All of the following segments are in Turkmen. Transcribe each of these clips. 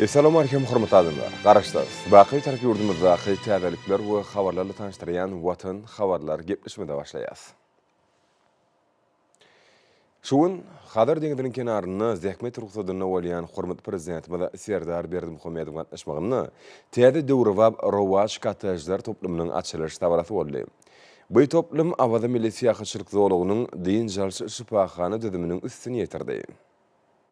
Essalamualeýkum hormatly adamlar! Garaşsyz, baky Türk ýurdumyzdaky täzelikler we habarlarly tanyşdyrýan Watan habarlar gepleşmede başlaýas. Şu gün Hazar deňiziniň kenarynda zähmet rugsadynda bolýan hormatly Prezidentimiz Serdar Berdimuhamedowyň gatnaşmagynda täze döwrebap Rowaç kottejler toplumynyň açylyş dabarasy boldy. By toplum Awaza milli syýahatçylyk zolagynyň dynç alyş şypahana düzüminiň üstüni ýetirdi.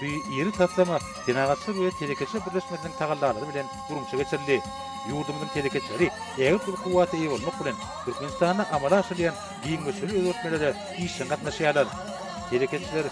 Bu iri taslama Senagatçylar we telekeçiler birleşmesiniň tagallalary bilen guramaça geçirildi. Ýurdumyzyň telekeçileri ägirt uly kuwwata eýe bolmak bilen, Türkmenistanda amala aşyrylýan giň möçberli özgertmelere işjeň gatnaşýarlar. Telekeçiler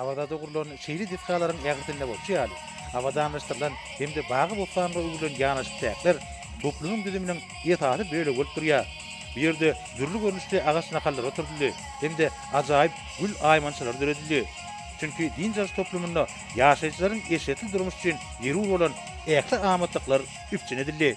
Awazada gurlan şeýle desgalaryň ählisinde bolşy ýaly, abadanlaşdyrylan hem-de bagy-bossanlyga öwrülen ýanaşyk çäkler toplunyň düzüminiň esasy bölegi bolup durýar. Bu ýerde dürli görnüşli agaç nahallar oturdyldy hem-de ajaýyp gül aýmançalary döredildi. Çünki dynç alyş toplumynda ýaşaýjylaryň eşretli durmuş üçin zerur bolan ähli amatlyklar üpjün edildi.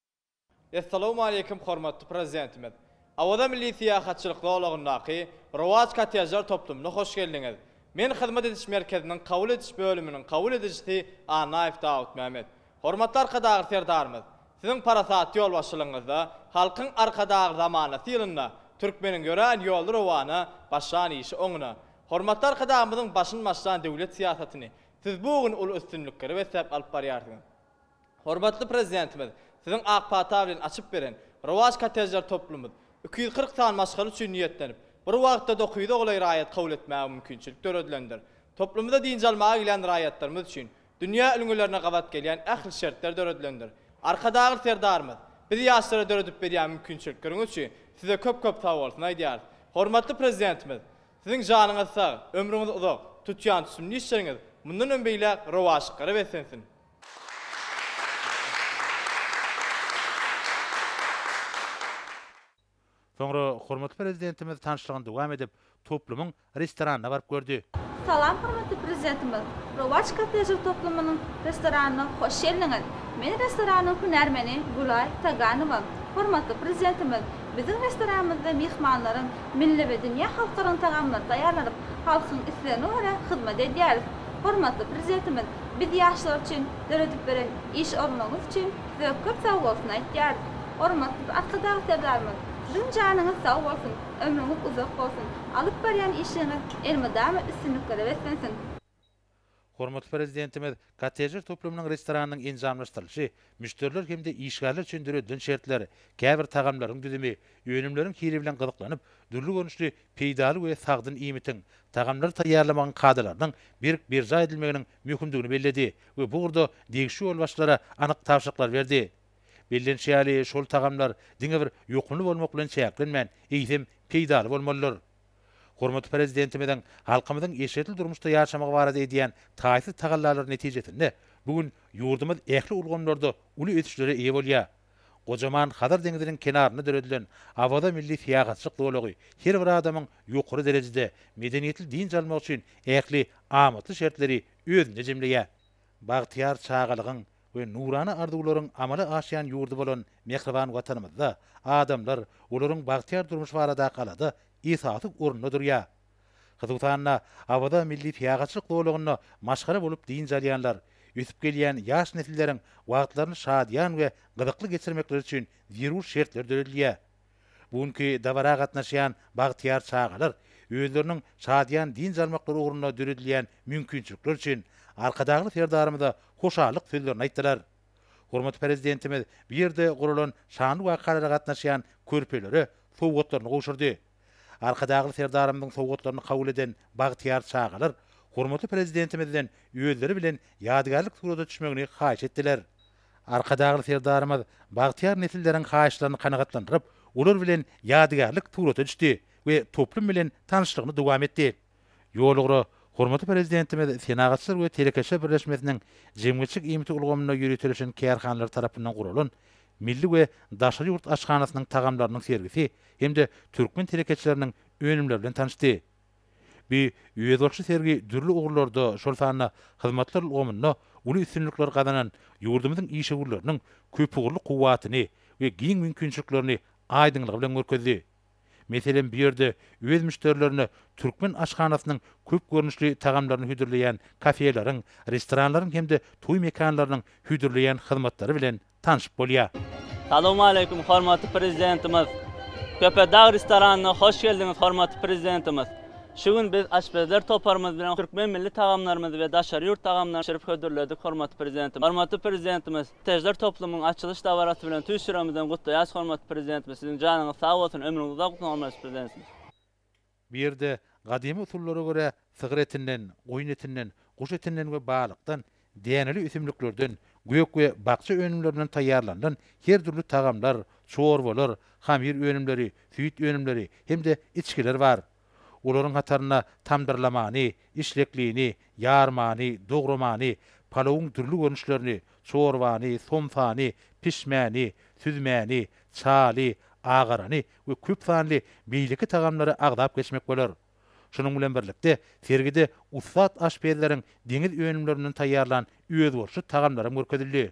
Essalawmaleýkim Hormatly Prezidentimiz Awaza milli syýahatçylyk zolagyndaky Rowaç kottejler toplumyna hoş geldiňiz! Men hyzmat ediş merkeziniň kabul ediş bölüminiň kabul edijisi Annaýew Dawutmämmet. Hormatly Arkadagly Serdarymyz, Siziň parasatly ýolbaşçylygyňyzda Halkyň Arkadagly zamanasy ýylynda türkmeniň ýörän ýoly rowana, başlan işi oňuna. Hormatly Arkadagymyzyň başyn başlan döwlet syýasatyny Siz bu gün uly üstünliklere besläp alyp barýarsyňyz. Hormatly Prezidentimiz Siziň ak pata bilen açyp beren Rowaç kottejler toplumymyz iki ýüz kyrk sany maşgala üçin niýetlenip, bir wagtda dokuz ýüze golaý raýat kabul etmäge mümkinçilik döredilendir. Toplumymyza dynç almaga gelýän raýatlarymyz üçin dünýä ülňülerine gabat gelýän ähli şertler döredilendir. Arkadagly Serdarymyz, Biz ýaşlara döredip berýän mümkinçilikleriňiz üçin Size köp-köp sagbolsun aýdýarys. Hormatly Prezidentimiz Siziň janyňyz sag, ömrüňiz uzak, tutýan sünnü işleriňiz mundanam beýläk rowaçlyklara beslensin! Soňra hormatly Prezidentimiz tanyşlygyny dowam edip, toplumyň restoranyna baryp gördi. Salam hormatly Prezidentimiz! Rowaç kottejli toplumynyň restoranyna hoş geldiňiz! Men restoranyň hünärmeni Gülaý Taganowa. Hormatly Prezidentimiz biziň restoranymyzda myhmanlaryň milli we dünýä halklarynyň tagamlary taýýarlanyp, halkyň islegine görä hyzmat edýäris. Hormatly Prezidentimiz Biz ýaşlar üçin döredip beren iş ornuňyz üçin size köp sag bolsun aýtýarys. Hormatly Arkadag Serdarymyz, Siziň janyňyz sag bolsun, ömrüňiz uzak bolsun, alyp barýan işiňiz elmydama üstünliklere beslensin! Hormatly Prezidentimiz kottejler toplumynyň restoranynyň enjamlaşdyrylyşy, müşderiler hem-de işgärler üçin döredilen şertler, käbir tagamlaryň düzümi, önümleriň hili bilen gyzyklanyp, dürli görnüşli peýdaly we sagdyn iýmitiň, tagamlary taýýarlamagyň kadalarynyň berk berjaý edilmeginiň möhümdigini belledi we bu ugurda degişli ýolbaşçylara anyk tabşyryklary berdi. Bellenişi ýaly, şol tagamlar diňe bir ýokumly bolmak bilen çäklenmän, eýsem, peýdaly bolmalydyr. Hormatly Prezidentimiziň halkymyzyň eşretli durmuşda ýaşamagy barada edýän taýsyz tagallalary netijesinde bu gün ýurdumyz ähli ulgamlarda uly ösüşlere eýe bolýar. Gojaman Hazar deňziniň kenarynda döredilen Awaza milli syýahatçylyk zolagy her bir adamyň ýokary derejede medeniýetli dynç almagy üçin ähli amatly şertleri özünde jemleýär. Bagtyýar çagalygyň we nurana arzuwlaryň amala aşýan ýurdy bolan mähriban Watanymyzda adamlar, olaryň bagtyýar durmuş baradaky alada esasy orunda durýar. Hususan-da, Awaza milli syýahatçylyk zolagynda maşgala bolup dynç alýanlar, ösüp gelýän ýaş nesilleriň wagtlaryny şadyýan we gyzykly geçirmekleri üçin zerur şertler döredilýär. Bu günki dabara gatnaşýan bagtyýar çagalar özleriniň şadyýan dynç almaklary ugrunda döredilýän mümkinçilikler üçin Arkadagly Serdarymyza hoşallyk sözlerini aýtdylar. Hormatly Prezidentimiz bu ýerde guralan şanly wakalara gatnaşýan körpelere sowgatlaryny gowşurdy. Arkadagly Serdarymyzyň sowgatlaryny kabul eden bagtyýar çagalar hormatly Prezidentimizden özleri bilen ýadygärlik surata düşmegini haýyş etdiler. Arkadagly Serdarymyz bagtyýar nesilleriň haýyşlaryny kanagatlandyryp, olar bilen ýadygärlik surata düşdi we toplum bilen tanyşlygyny dowam etdi. Ýolugra hormatly Prezidentimiz Senagatçylar we telekeçiler birleşmesiniň jemgyýetçilik iýmiti ulgamynda ýöriteleşen kärhanalary tarapyndan guralan milli we daşary ýurt aşhanasynyň tagamlarynyň sergisi hem-de türkmen telekeçileriniň önümleri bilen tanyşdy. Bu özboluşly sergi dürli ugurlarda, şol sanda hyzmatlar ulgamynda uly üstünlikleri gazanan ýurdumyzyň işewürleriniň köpugurly kuwwatyny we giň mümkinçiliklerini aýdyňlygy bilen görkezdi. Meselem, bu ýerde öz müşderilerine türkmen aşhanasynyň köp görnüşli tagamlaryny hödürleýän kafeleriň, restoranlaryň hem-de toý mekanlarynyň hödürleýän hyzmatlary bilen tanşyp bolýar. Salowmaleýkim, hormatly Prezidentimiz! Köpetdag restoranyna hoş geldiňiz, hormatly Prezidentimiz! Şu gün biz aşpezler toparymyz bilen türkmen milli tagamlarymyzy we daşary ýurt tagamlaryny bişirip hödürledik, hormatly Prezidentimiz! Hormatly Prezidentimiz! Täjler toplumyň açylyş dabarasy bilen tüýs ýüregimizden gutlaýas hormatly Prezidentimiz siziň janyňyz sag bolsun ömrüňiz uzak bolsun hormatly Prezidentimiz. Bu ýerde gadymy usullara görä sygyr etinden, goýun etinden, guş etinden we balykdan, däneli ösümliklerden, gök we bakja önümlerinden taýýarlanylan her dürli tagamlar, çorbalar, hamyr önümleri, süýt önümleri hem-de içgiler bar. Olaryň hatarynda tamdyrlamany, işleklini, ýarmany, dogramany, palawyň dürli görnüşlerini, çorbany, somsany, pişmäni, süzmäni, çaly, agarany we köp sanly beýleki tagamlary agzap geçmek bolar. Şunuň bilen birlikde, sergide ussat aşpezleriň deňiz önümlerinden taýýarlan özboluşly tagamlaram görkezildi.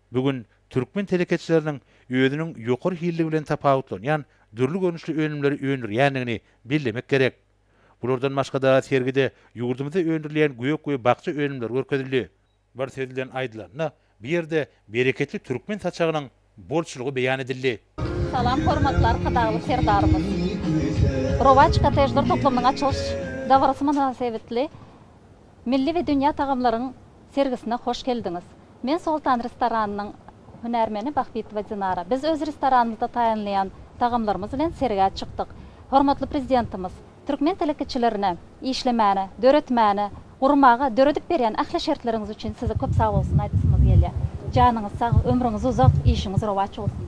Bu gün türkmen telekeçileriniň özüniň ýokary hilli bilen tapawutlanýan dürli görnüşli önümleri öndürýändigini bellemek gerek. Bulardan başga-da sergide ýurdumyzda öndürilýän gök we bakja önümleri görkezildi. Bir söz bilen aýdylanda, bu ýerde bereketli türkmen saçagynyň bolçulygy beýan edildi. Salam hormatly Arkadagly Serdarymyz! Rowaç kottejler toplumynyň açylyş dabarasy mynasebetli milli we dünýä tagamlaryň sergisine hoş geldiňiz! Men Soltan restoranynyň hünärmeni Bahbitowa Dinara. Biz öz restoranymyzda taýynlaýan tagamlarymyz bilen sergä çykdyk. Hormatly Prezidentimiz, Türkmen telekeçilerine işlemäne, döretmäne, gurmaga, döredip berýän ähli şertleriňiz üçin size köp sagbolsun aýdasymyz gelýär. Janyňyz sag, ömrüňiz uzak, işiňiz rowaç bolsun!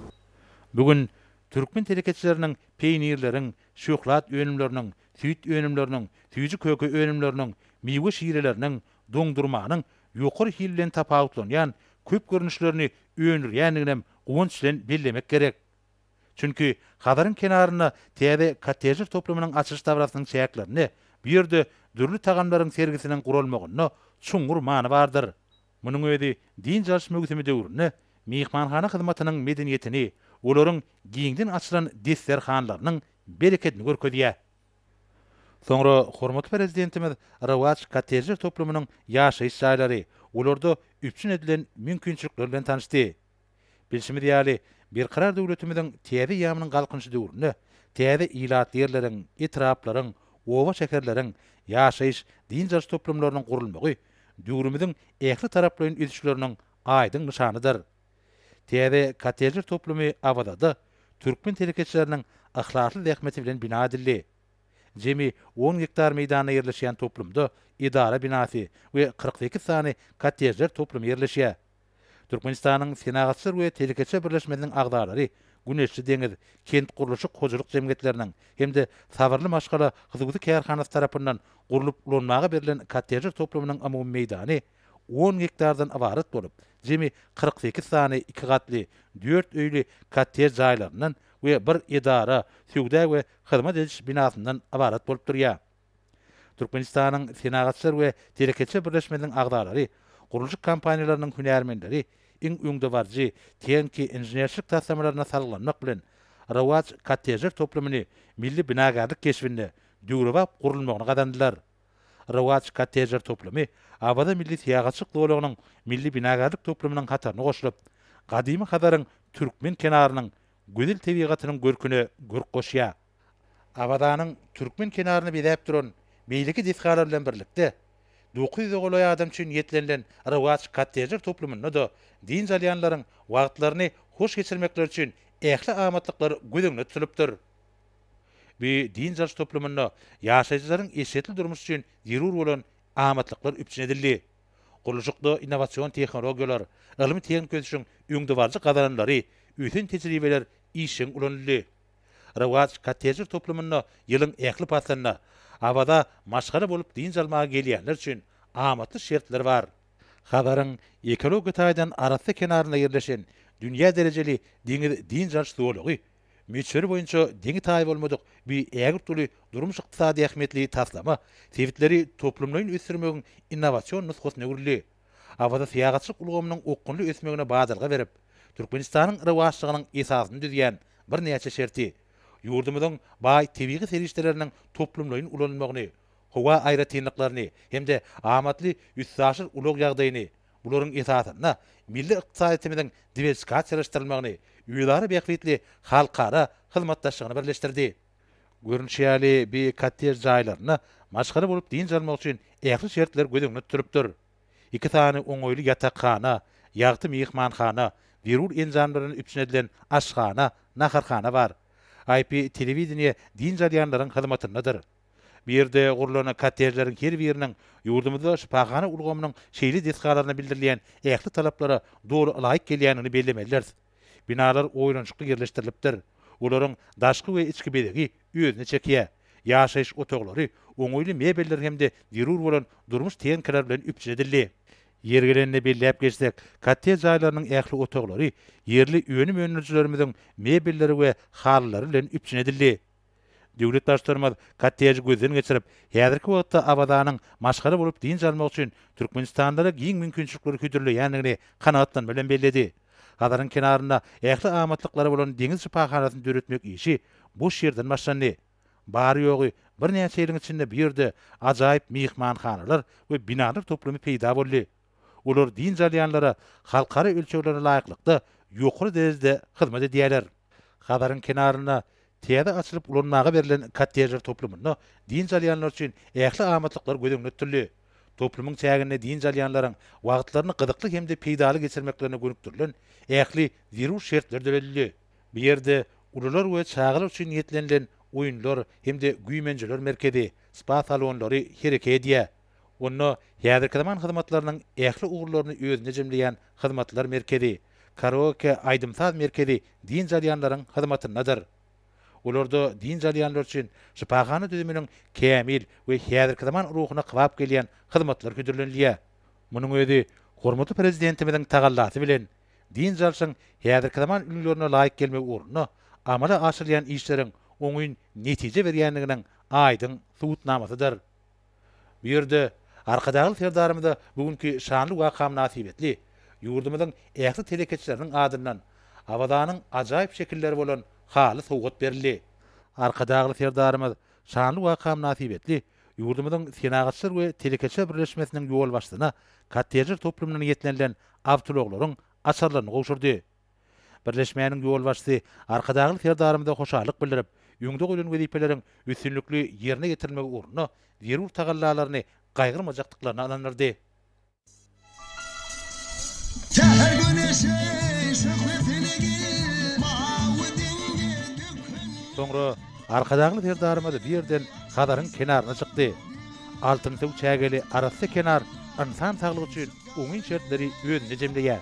Bu gün türkmen telekeçileriniň peýnirleriň, şöhlat önümleriniň, süýt önümleriniň, süýji-köke önümleriniň, miwe şireleriniň, doňdurmanyň ýokary hil bilen tapawutlanýan köp görnüşlerini öndürýändiginem guwanç bilen bellemek gerek. Çünki Hazaryň kenarynda täze kottejler toplumynyň açylyş dabarasynyň çäklerinde bu ýerde dürli tagamlaryň sergisiniň guralmagynda çuňňur many bardyr. Munuň özi dynç alyş möwsümi döwründe myhmanhana hyzmatynyň medeniýetini, olaryň giňden açylan desterhanlarynyň berekedini görkezýär. Soňra hormatly Prezidentimiz Rowaç kottejler toplumynyň ýaşaýyş jaýlary, olarda üpjün edilen mümkinçilikler bilen tanyşdy. Bilşimiz ýaly, Berkarar döwletimiziň täze ýamynyň Galkynyş döwründe täze ilat ýerleriň, etraplaryň, oba-şäherleriň, ýaşaýyş, dynç alyş toplumlarynyň gurulmagy döwrümiziň ähli taraplaýyn ösüşleriniň aýdyň nyşanydyr. Täze kottejler toplumy Awazada türkmen telekeçileriniň yhlasly zähmeti bilen bina edildi. Jemi on gektar meýdanda ýerleşýän toplumda edara binasy we kyrk sekiz sany kottejler toplumy ýerleşýär. Türkmenistanyň Senagatçylar we telekeçiler birleşmesiniň agzalary Güneşli deňiz kentgurluşyk hojalyk jemgyýetleriniň hem-de Sabyrly maşgala hususy kärhanasy tarapyndan gurlup ulanmaga berlen kottejler toplumynyň umumy meýdany on gektardan ybarat bolup, jemi kyrk sekiz sany iki gatly, dört öýli kottej jaýlaryndan we bir edara, söwda we hyzmat ediş binasyndan ybarat bolup durýar. Türkmenistanyň Senagatçylar we telekeçiler birleşmesiniň agzalary, gurluşyk kompaniýalarynyň hünärmenleri iň öňdebaryjy tehniki inženerçilik taslamalaryna salgylanmak bilen, Rowaç kottejler toplumyny milli binagärlik keşbinde döwrebap gurulmagyny gazandylar. Rowaç kottejler toplumy Awaza milli syýahatçylyk zolagynyň milli binagärlik toplumynyň hataryna goşulyp, gadymy Hazaryň türkmen kenarynyň gözel tebigatynyň görküne görk goşýar. Awazanyň türkmen kenaryny bezäp duran beýleki desgalar bilen birlikde, dokuz ýüze golaý adam üçin niýetlenilen Rowaç kottejler toplumynda-da dynç alýanlaryň wagtlaryny hoş geçirmekleri üçin ähli amatlyklar göz öňünde tutulypdyr. Bu dynç alyş toplumynda ýaşaýjylaryň eşretli durmuş üçin zerur bolan amatlyklar üpjün edildi. Gurluşykda innowasion tehnologiýalar, ylmy-tehniki ösüşiň öňdebaryjy gazananlary, ösen tejribeler işjeň ulanyldy. Rewaj kottejler toplumynda ýylyň ähli paslynda Awaza maşgala bolup dynç almaga gelýänler üçin amatly şertler bar. Hazaryň ekologik taýdan arassa kenarynda ýerleşen dünýä derejeli deňiz dynç alyş zolagy möçberi boýunça deňi-taýy bolmadyk bi ägirt uly durmuş-ykdysady ähmiýetli taslama sebitleri toplumlaýyn ösdürmegiň innowasion nusgasyna öwrüldi. Awaza syýahatçylyk ulgamynyň okgunly ösmegine badalga berip, Türkmenistanyň rowaçlygynyň esasyny düzýän birnäçe şerti, ýurdumyzyň baý tebigy serişdeleriniň toplumlaýyn ulanylmagyny, howa aýratynlyklaryny hem-de amatly üstaşyr ulag ýagdaýyny, bularyň esasynda milli ykdysadyýetimiziň diwersikasiýalaşdyrylmagyny, özara bähbitli halkara hyzmatdaşlygyny birleşdirdi. Görnüşi ýaly, bi kottej jaýlarynda maşgala bolup dynç almak üçin ähli şertler göz öňünde tutulupdyr. Iki sany oňaýly ýatakhana, ýagty myhmanhana, zerur enjamlar bilen üpjün edilen aşhana, naharhana bar. IP telewideniýe dynç alýanlaryň hyzmatyndadyr. Bu ýerde gurlan kottejleriň her biriniň ýurdumyzda şypahana ulgamynyň şeýle desgalaryna bildirilýän ähli talaplara doly laýyk gelýändigini bellemelidiris. Binalar oýlanyşykly ýerleşdirilipdir. Olaryň daşky we içki bezegi özüne çekýär. Ýaşaýyş otaglary oňaýly mebeller hem-de zerur bolan durmuş tehnikalar bilen üpjün edildi. Ýeri gelende belläp geçsek, kottej jaýlarynyň ähli otaglary ýerli önüm öndürijilerimiziň mebelleri we halylary bilen üpjün edildi. Döwlet Baştutanymyz kotteji gözden geçirip, häzirki wagtda Awazanyň maşgala bolup dynç almak üçin türkmenistanlylara giň mümkinçilikleri hödürleýändigini kanagatlanma bilen belledi. Hazaryň kenarynda ähli amatlyklary bolan deňiz şypahanasyny döretmek işi boş ýerden başlandy. Bary-ýogy birnäçe ýylyň içinde bu ýerde ajaýyp myhmanhanalar we binalar toplumy peýda boldy. Olar dynç alýanlara halkara ölçeglere laýyklykda ýokary derejede hyzmat edýärler. Hazaryň kenarynda täze açylyp ulanmaga berlen kottejler toplumynda dynç alýanlar üçin ähli amatlyklar göz öňünde tutuldy. Toplumyň çäginde dynç alýanlaryň wagtlaryny gyzykly hem-de peýdaly geçirmeklerine gönükdirilen ähli zerur şertler döredildi. Bu ýerde ulular we çagalar üçin niýetlenilen oýunlar hem-de güýmenjeler merkezi, spa salonlary hereke edýär. Onda häzirki zaman hyzmatlarynyň ähli ugurlaryny özünde jemleýän hyzmatlar merkezi, karaoke aýdym-saz merkezi dynç alýanlaryň hyzmatyndadyr. Olarda dynç alýanlar üçin şypahana düzüminiň kämil we häzirki zaman ruhuna kybap gelýän hyzmatlar hödürlenilýär. Munuň özi hormatly Prezidentimiziň tagallasy bilen, dynç alşyň häzirki zaman ülňülerine laýyk gelmegi ugrunda amala aşyrylýan işleriň oňyn netije berýändiginiň aýdyň subutnamasydyr. Bu ýerde Arkadagly Serdarymyza bu günki şanly waka mynasybetli ýurdumyzyň ähli telekeçileriniň adyndan Awazanyň ajaýyp şekilleri bolan haly sowgat berildi. Arkadagly Serdarymyz şanly waka mynasybetli ýurdumyzyň Senagatçylar we telekeçiler birleşmesiniň ýolbaşçysyna kottejler toplumyndan ýetlenilen awtoulaglaryň açarlaryny gowşurdy. Birleşmäniň ýolbaşçysy Arkadagly Serdarymyza hoşallyk bildirip, öňde goýlan wezipeleriň üstünlikli ýerine ýetirilmegi ugrunda zerur tagallalaryny gaýgyrmajakdyklaryna ynandyrdy. Soňra Arkadagly Serdarymyz bu ýerden Hazaryň kenaryna çykdy. Altynsuw çägeli arassa kenar ynsan saglygy üçin oňyn şertleri özünde jemleýär.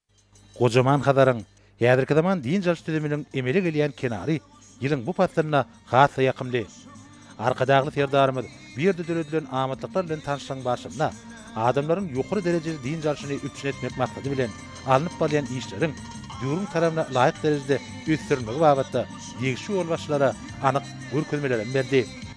Gojaman Hazaryň, häzirki zaman dynç alyş düzüminiň emele gelýän kenary ýylyň bu paslynda has-da ýakymly. Arkadagly Serdarymyz bu ýerde döredilen amatlyklar bilen tanyşlygyň barşynda adamlaryň ýokary derejeli dynç alşyny üpjün etmek maksady bilen alnyp barylýan işleriň döwrüň talabyna laýyk derejede ösdürilmegi babatda degişli ýolbaşçylara anyk görkezmelerem berdi.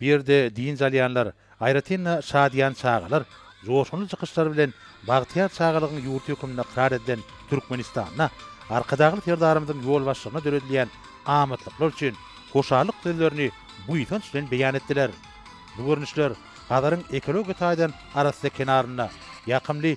Bu ýerde dynç alýanlar, aýratyn-da, şadyýan çagalar joşgunly çykyşlary bilen bagtyýar çagalygyň ýurdy hökmünde ykrar edilen Türkmenistanda Arkadagly Serdarymyzyň ýolbaşçylygynda döredilýän amatlyklar üçin hoşallyk sözlerini buýsanç bilen beýan etdiler. Bu görnüşler Hazaryň ekologiýa taýdan arassa kenarynda ýakymly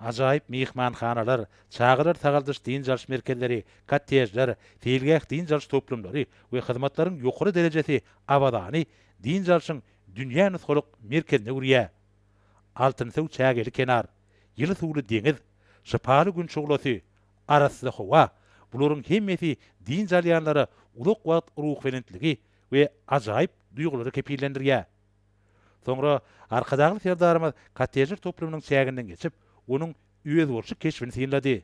Ajaýyp myhmanhanalar, çagalar sagaldyş-dynç alyş merkezleri, kottejler, seýilgäh-dynç alyş toplumlary we hyzmatlaryň ýokary derejesi Awazany dynç alşyň dünýä nusgalyk merkezine öwürýär. Altynsöw çägeli kenar, ýyly suwly deňiz, şypaly gün şuglasy, arassa howa, bularyň hemmesi dynç alýanlara uzak wagt ruhbelentligi we ajaýyp duýgulary kepillendirýär. Soňra Arkadagly Serdarymyz kottejler toplumynyň çäginden geçip, onuň özboluşly keşbini synlady.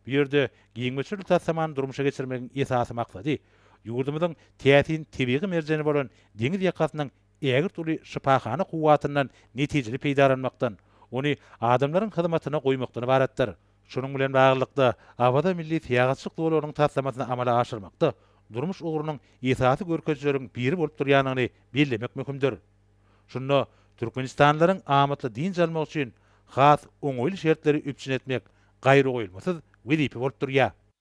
Bu ýerde giň möçberli taslamany durmuşa geçirmegiň esasy maksady ýurdumyzyň täsin tebigy merjeni bolan deňiz ýakasynyň ägirt uly şypahana kuwwatyndan netijeli peýdalanmakdan, ony adamlaryň hyzmatyna goýmakdan ybaratdyr. Şunuň bilen baglylykda, Awaza milli syýahatçylyk zolagynyň taslamasyny amala aşyrmakda durmuş ugrunyň esasy görkezijileriň biri bolup durýandygyny bellemek möhümdir. Şunda türkmenistanlylaryň amatly dynç almagy üçin has oňaýly şertleri üpjün etmek gaýragoýulmasyz wezipe bolup durýar.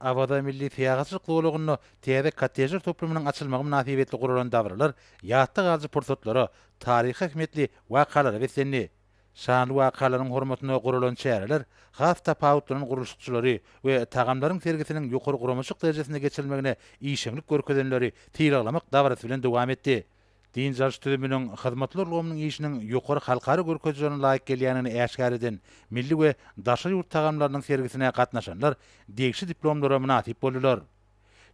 Awaza milli syýahatçylyk zolagynda täze kottejler toplumynyň açylmagy mynasybetli guralan dabaralar ýatda galyjy pursatlara, taryhy ähmiýetli wakalara beslendi. Şanly wakalaryň hormatyna guralan çäreler has tapawutlanan gurluşykçylary we tagamlaryň sergisiniň ýokary guramaçylyk derejesinde geçirilmegine işeňlik görkezenleri sylaglamak dabarasy bilen dowam etdi. Dynç alyş düzüminiň hyzmatly ulgamynyň işiniň ýokary halkara görkezijilerine laýyk gelýändigini äşgär eden milli we daşary ýurt tagamlarynyň sergisine gatnaşanlar degişli diplomlara mynasyp boldular.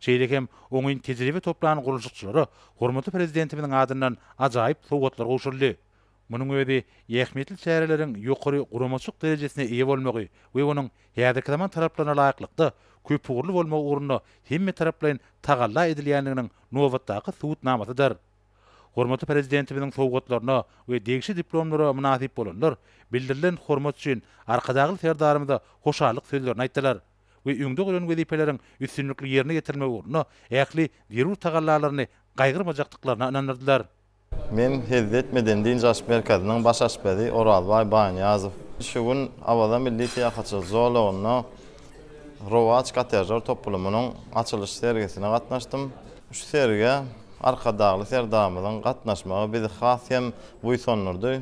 Şeýle hem oňyn tejribe toplan gurluşykçylara hormatly Prezidentimiziň adyndan ajaýyp sowgatlar gowşuryldy. Munuň özi ähmiýetli çäreleriň ýokary guramaçylyk derejesine eýe bolmagy we onuň häzirki zaman talaplaryna laýyklykda, köpugurly bolmagy ugrunda hemmetaraplaýyn tagalla edilýändiginiň nobatdaky subutnamasydyr. Hormatly Prezidentimiziň sowgatlaryna we degişli diplomlara mynasyp bolanlar bildirilen hormat üçin Arkadagly Serdarymyza hoşallyk sözlerini aýtdylar we öňde goýlan wezipeleriň üstünlikli ýerine ýetirilmegi ugrunda ähli zerur tagallalaryny gaýgyrmajakdyklaryna ynandyrdylar. Men hezil etmeden dynç alyş merkeziniň baş aşpezi Orazbaý Baýnyýazow. Şu gün Awaza milli syýahatçylyk zolagynda Rowaç kottejler toplumynyň açylyş sergisine gatnaşdym. Şu sergä Arkadagly Serdarymyzyň gatnaşmagy bizi has hem buýsandyrdy.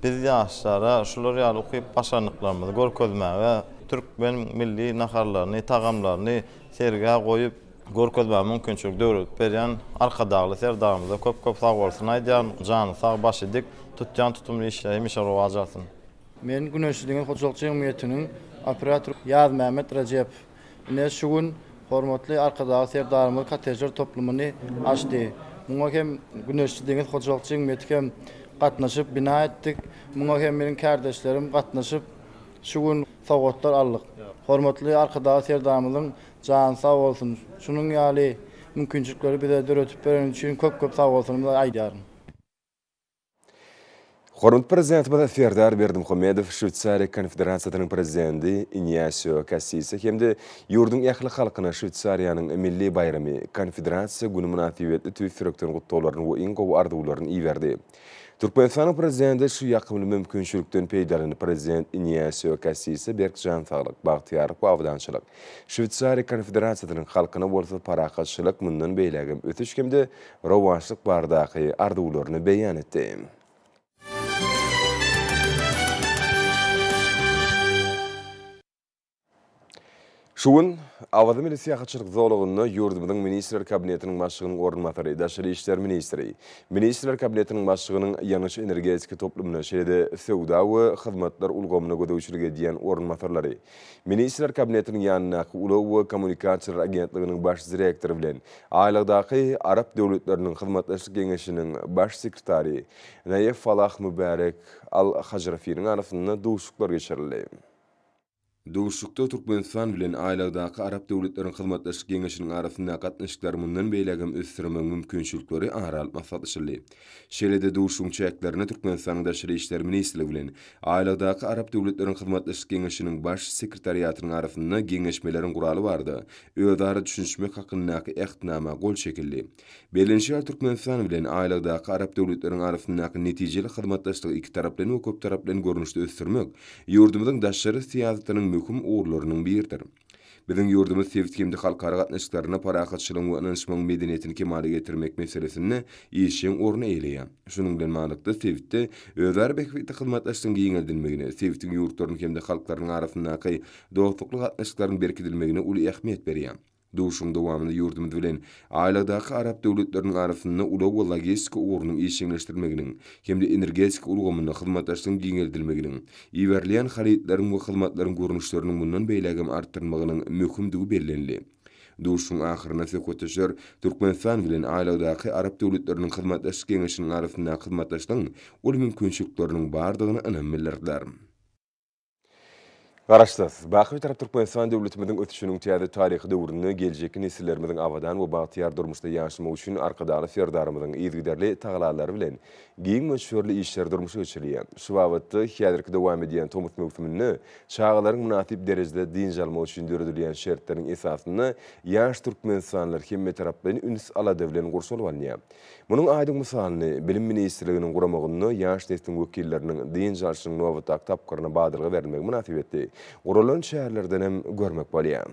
Biz ýaşlara şular ýaly ukyp-başarnyklarymyzy görkezmäge türkmen milli naharlaryny, tagamlaryny sergä goýup, Görkezmä mümkinçilik döredip berýän Arkadagly Serdarymyza köp köp sag bolsun aýdýaryn, jany sag, başy dik, tutýan tutumly işleri hemişe rowaç alsyn. Men Güneşli deňiz hojalyk jemgyýetiniň operatory Ýazmämmet Rejep. Ine, şu gün hormatly Arkadagly Serdarymyz kottejler toplumyny açdy. Muňa hem Güneşli deňiz hojalyk jemgyýeti hem gatnaşyp, bina etdik. Muňa hem meniň kärdeşlerim gatnaşyp, şu gün sowgatlar aldyk. Hormatly Arkadagly Serdarymyzyň Jany sag bolsun. Şunuň ýaly mümkinçilikleri bize döredip bereni üçin köp köp sag bolsunymyzy aýdýaryn. Hormatly Prezidentimiz Serdar Berdimuhamedow Şweýsariýa Konfederasiýasynyň Prezidenti Inýasio Kassise hem-de ýurduň ähli halkyna Şweýsariýanyň milli baýramy, Konfederasiýa güni mynasybetli tüýs ýürekden gutlaglaryny we iň gowy arzuwlaryny iberdi. Türkmenistanyň Prezidenti şu ýakymly mümkinçilikden peýdalanyp, Prezident Iniasio Kassise berk jan saglyk, bagtyýarlyk we abadançylyk, Şweýsariýa Konfederasyýasynyň halkyna bolsa parahatçylyk, mundan beýlägem ösüş hem-de rowaçlyk baradaky arzuwlaryny beýan etdi. Şu gün Awaza milli syýahatçylyk zolagynda ýurdumyzyň Ministrler Kabinetiniň Başlygynyň orunbasary, daşary işler ministri, Ministrler Kabinetiniň Başlygynyň ýangyç-energetika toplumyna, şeýle-de söwda we hyzmatlar ulgamyna gözegçilik edýän orunbasarlary, Ministrler Kabinetiniň ýanyndaky Ulag we kommunikasiýalar agentliginiň baş direktory bilen Aýlagdaky arap döwletleriniň hyzmatdaşlyk geňeşiniň baş sekretary Naýef Falah Mübärek Al-Hajrafiniň arasynda duşuşyklar geçirildi. Duşuşykda Türkmenistan bilen Aýlagdaky arap döwletleriň hyzmatdaşlyk geňeşiniň arasyndaky gatnaşyklary mundan beýläk hem ösdürmegiň mümkinçilikleri ara alyp maslahatlaşyldy. Şeýle-de duşuşygyň çäklerinde Türkmenistanyň Daşary işler ministrligi bilen Aýlagdaky arap döwletleriň hyzmatdaşlyk geňeşiniň Baş sekretariatynyň arasynda Geňeşmeleriň guraly barada özara düşünişmek hakyndaky Ähtnama gol çekildi. Berlenişýär Türkmenistan bilen aýlagdaky arap döwletleriň arasyndaky netijeli hyzmatdaşlygy ikitaraplaýyn we köptaraplaýyn görnüşde ösdürmek ýurdumyzyň daşary syýasatynyň möhüm ugurlarynyň biridir. Biziň ýurdumyz sebit hem-de halkara gatnaşyklarynda parahatçylygyň we ynanyşmagyň medeniýetini kemala getirmek meselesinde işjeň orun eýeleýär. Şunuň bilen baglylykda, sebitde özara bähbitli hyzmatdaşlygyň giňeldilmegine, sebitiň ýurtlarynyň hem-de halklarynyň arasyndaky dostlukly gatnaşyklaryň berkidilmegine uly ähmiýet berýär. Duşuşygyň dowamynda ýurdumyz bilen Aýlagdaky arap döwletleriniň arasynda ulag we logistika ugrunyň işjeňleşdirilmeginiň hem-de energetika ulgamynda hyzmatdaşlygyň giňeldilmeginiň, iberilýän harytlaryň we hyzmatlaryň görnüşleriniň mundan beýlägem artdyrylmagynyň möhümdigi bellenildi. Duşuşygyň ahyrynda söhbetdeşler Türkmenistan bilen Aýlagdaky arap döwletleriniň hyzmatdaşlyk geňeşiniň arasyndaky hyzmatdaşlygyň uly mümkinçilikleriniň bardygyna ynam bildirdiler. Garaşsyz, baky Bitarap Türkmenistan döwletimiziň ösüşiniň täze taryhy döwründe geljekki nesillerimiziň abadan we bagtyýar durmuşda ýaşamagy üçin Arkadagly Serdarymyzyň yzygiderli tagallalary bilen giň möçberli işleri durmuşa geçirilýär. Şu babatda, häzirki dowam edýän tomus möwsüminde çagalaryň mynasyp derejede dynç almagy üçin döredilýän şertleriň esasynda ýaş türkmenistanlylar hemmetaraplaýyn üns-alada bilen gurşalyp alynýar. Munuň aýdyň mysalyny Bilim ministrliginiň guramagynda ýaş nesliň wekilleriniň dynç alşynyň nobatdaky tapgyryna badalga berilmegi mynasybetli guralan çärelerden hem görmek bolýar.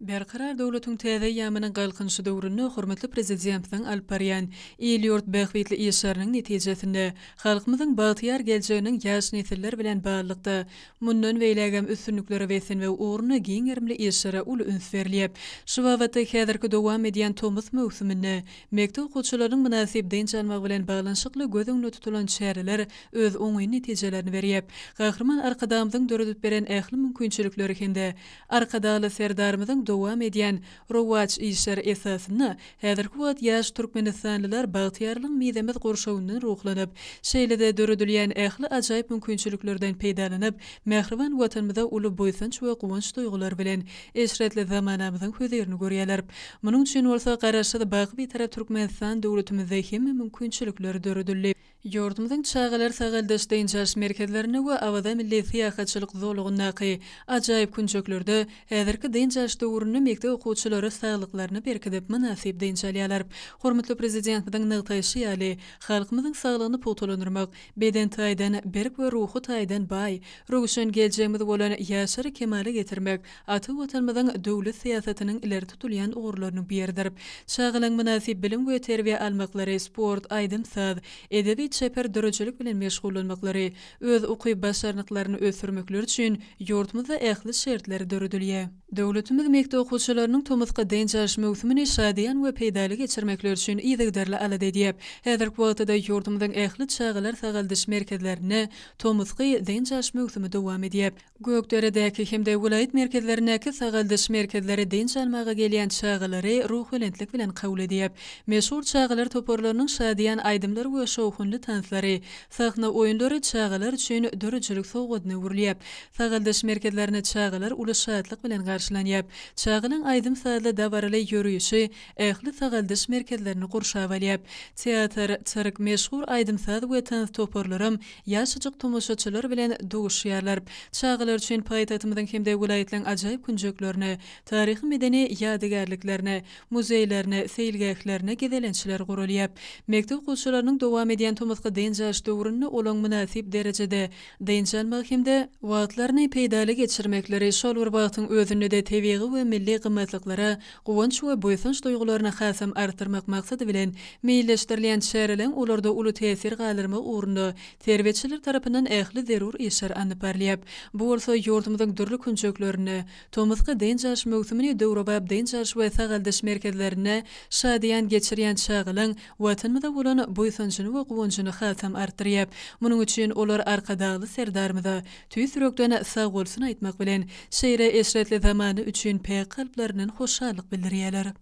Berkarar döwletiň täze eýýamynyň Galkynyşy döwründe hormatly Prezidentimiziň alyp barýan il-ýurt bähbitli işleriniň netijesinde, halkymyzyň bagtyýar geljeginiň ýaş nesiller bilen baglylykda Mundan beýlägem üstünliklere beslenmek ugrunda giň gerimli işlere uly üns berilýär. Şu babatda häzirki dowam edýän tomus möwsüminde mekdep okuwçylarynyň mynasyp dynç almagy bilen baglanyşykly göz öňünde tutulan çäreler öz oňyn netijelerini berýär. Gahryman Arkadagymyzyň döredip beren ähli mümkinçilikleri hem-de Arkadagly Serdarymyzyň dowam edýän Rowaç işleri esasynda häzirki wagt ýaş türkmenistanlylar bagtyýarlygyň mizemez gurşawyndan ruhlanyp, şeýle-de döredilýän ähli ajaýyp mümkinçiliklerden peýdalanyp, mähriban Watanymyza uly buýsanç we guwanç duýgulary bilen eşretli zamanamyzyň hözirini görýärler. Munuň üçin bolsa Garaşsyz, baky Bitarap Türkmenistan döwletimizde hemme mümkinçilikler döredildi. Ýurdumyzyň çagalar sagaldyş dynç alyş merkezlerinde we Awaza milli syýahatçylyk zolagyndaky ajaýyp künjeklerde häzirki dynç alyş döwründe mekdep okuwçylary saglyklaryny berkidip, mynasyp dynç alýarlar. Hormatly Prezidentimiziň nygtaýşy ýaly, halkymyzyň saglygyny pugtalandyrmak, beden taýdan berk we ruhy taýdan baý, röwşen geljegimiz bolan ýaşlary kemala getirmek Ata Watanymyzyň döwlet syýasatynyň ileri tutulýan ugurlarynyň biridir. Çagalaryň mynasyp bilim we terbiýe almaklary, sport, aýdym-saz, edebi, çeper döredijilik bilen meşgullanmaklary, öz ukyp-başarnyklaryny ösdürmekleri üçin ýurdumyzda ähli şertler döredilýär. Döwletimiz mekdep okuwçylarynyň tomusky dynç alyş möwsümini şadyýan we peýdaly geçirmekleri üçin yzygiderli alada edýär. Häzirki wagtda-da ýurdumyzyň ähli çagalar sagaldyş merkezlerinde tomusky dynç alyş möwsümi dowam edýär. Gökderedäki hem-de welaýat merkezlerindäki sagaldyş merkezleri dynç almaga gelýän çagalary ruhubelentlik bilen kabul edýär. Meşhur çagalar toparlarynyň şadyýan aýdymlary we şowhunly tanslary, sahna oýunlary çagalar üçin döredijilik sowgadyna öwrülýär. Sagaldyş merkezlerinde çagalar uly şatlyk bilen garşylanýar. Çagalaryň aýdym-sazly dabaraly ýörişi ähli sagaldyş merkezlerini gurşap alýar. Teatr, sirk, meşhur aýdym-saz we tans toparlaram ýaşajyk tomaşaçylar bilen duşýarlar. Çagalar üçin paýtagtymyzyň hem-de welaýatlaryň ajaýyp künjeklerine, taryhy-medeni ýadygärliklerine, muzeýlerine, seýilgählerine gezelençler guralýar. Mekdep okuwçylarynyň dowam edýän tomusky dynç alyş döwründe olaň mynasyp derejede dynç almagy hem-de, wagtlaryny peýdaly geçirmekleri, şol bir wagtyň özünde-de tebigy we milli gymmatlyklara Guwanç we buýsanç duýgularyny hasam artdyrmak maksady bilen meýilleşdirilýän çäreleň olarda uly täsir galdyrmagy ugrunda terbiýeçiler tarapyndan ähli zerur işler alnyp barylýar. Bu bolsa ýurdumyzyň dürli künjeklerinde, tomusky dynç alyş möwsümini döwrebap dynç alyş we sagaldyş merkezlerinde şadyýan geçirýän çagalaň Watanymyza bolan buýsanjyny we guwanjyny hasam artdyrýar. Munuň üçin olar Arkadagly Serdarymyza tüýs ýürekden sagbolsun aýtmak bilen, şeýle eşretli zamana üçin päk kalplaryndan hoşallyk bildirýärler.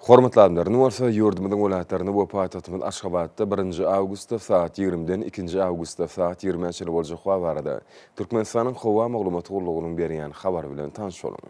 Hormatly alymlar, indi bolsa ýurdumyzyň welaýatlarynda we paýtagtymyz Aşgabatda birinji awgustda sagat ýigrimiden ikinji awgustda sagat ýigrimä çenli boljak wagt barada Türkmenistanyň Howa maglumat gullugynyň berýän habary bilen tanyş boluň.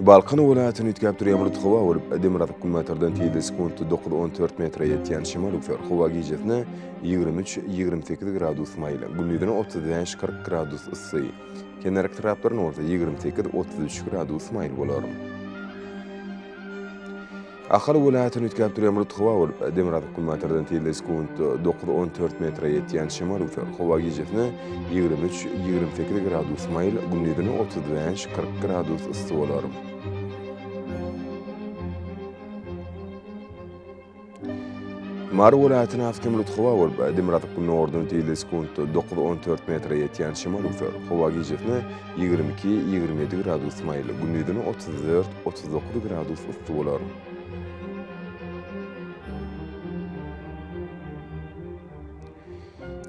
Balkan welaýatyny üýtgäp dur ýamryt howa bolup, demirgazyk günbatardan tizligi sekuntda dokuz on dört metre ýetýän şemal üflär, howa gijesine ýigrimi üç, ýigrimi sekiz gradus maýyl, gündizine otuz bäş, kyrk gradus yssy, kenarki taraplarynda bolsa ýigrimi sekiz, otuz üç gradus maýyl bolar. Ahal welaýatyny üýtgäp durýan bulut howa bolup, demirgazyk günbatardan tizligi sekuntda dokuz on dört metre ýetýän şemal üwser. Howa gijesine ýigrimi üç, ýigrimi sekiz gradus maýyl, gündizine otuz bäş, kyrk gradus yssy bolar. Mary welaýatyny asgyn bulut howa bolup, demirgazyk-gündogardan tizligi sekuntda dokuz on dört metre ýetýän şemal üwser. Howa gijesine Ýigrimi iki, ýigrimi ýedi gradus maýyl, gündizine otuz dört, otuz dokuz gradus yssy bolar.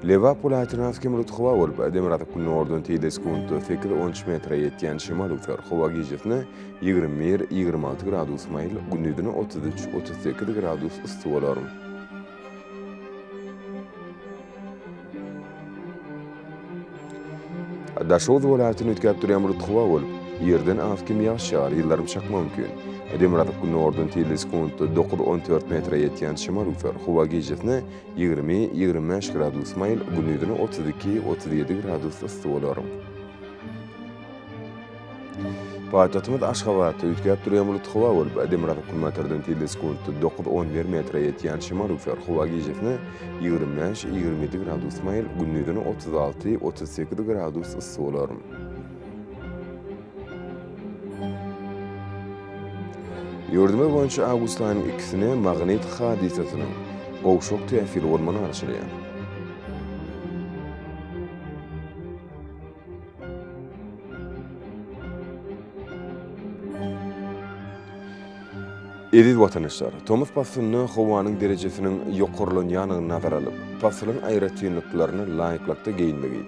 Lebap welaýatyna has hem bulut howa bolup, demirgazyk günordan teýze sekuntda sekiz, on üç metre ýetýän şemal öwser. Howa gijasine ýigrimi bir, ýigrimi alty gradus maýyl, gündizine otuz üç, otuz sekiz gradus yssy bolar. Daşoguz welaýatyny üýtgäp durýan bulut howa bolup, ýerden az kim ýagyş ýagar, ýyldyrym çakma mümkin. Demirgazyk gündogardan tizligi sekuntda dokuz, on dört metre ýetýän şemal üwser. Howa gijesine ýigrimi, ýigrimi bäş gradus maýyl, gündizine otuz iki, otuz ýedi gradus yssy bolar. Paýtagtymyz Aşgabatda üýtgäp durýan bulutly howa bolup, demirgazyk günbatardan tizligi sekuntda dokuz, on bir metre ýetýän şemal-rügsar howa gijesine ýigrimi bäş, ýigrimi ýedi gradus maýyl, gündizine otuz alty, otuz sekiz gradus yssy bolar. Ýurdumyz boýunça awgust aýynyň ikisine magnit hadysasynyň gowşak täsiri bolman garaşylýar. Eziz watandaşlar! Tomus paslynda howanyň derejesiniň ýokarlanýandygyny nazara alyp, pasylyň aýratynlyklaryna laýyklykda geýinmegi,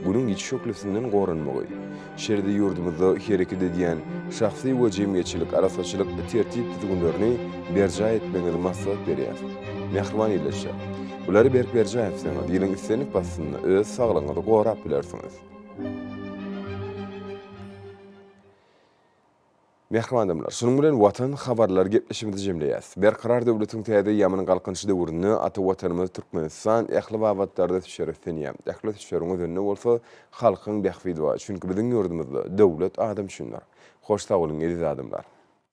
Günüň ýiti şöhlesinden goranmagy, şeýle-de ýurdumyzda hereket edýän şahsy we jemgyýetçilik arassaçylyk tertip-düzgünlerini berjaý etmegiňizi maslahat berýäris. Mähriban ildeşler! Bulary berk berjäňizseň, diliň islendik basynda öz saglygyňyzy gorap bilersiňiz. Mähriban adamlar, şunuň bilen Watan habarlary gepleşigimizi jemleýäs. Berkarar döwletiň täze ýamyny galkynyşy döwründe ata Watanymyz Türkmenistan ähli babatlarda düşer üstünýär. Ähli düşeriň özeninde bolsa halkyň bähbidi bar. Çünki biziň ýurdumyzda döwlet adam üçindir. Hoş sag boluň, eziz adamlar!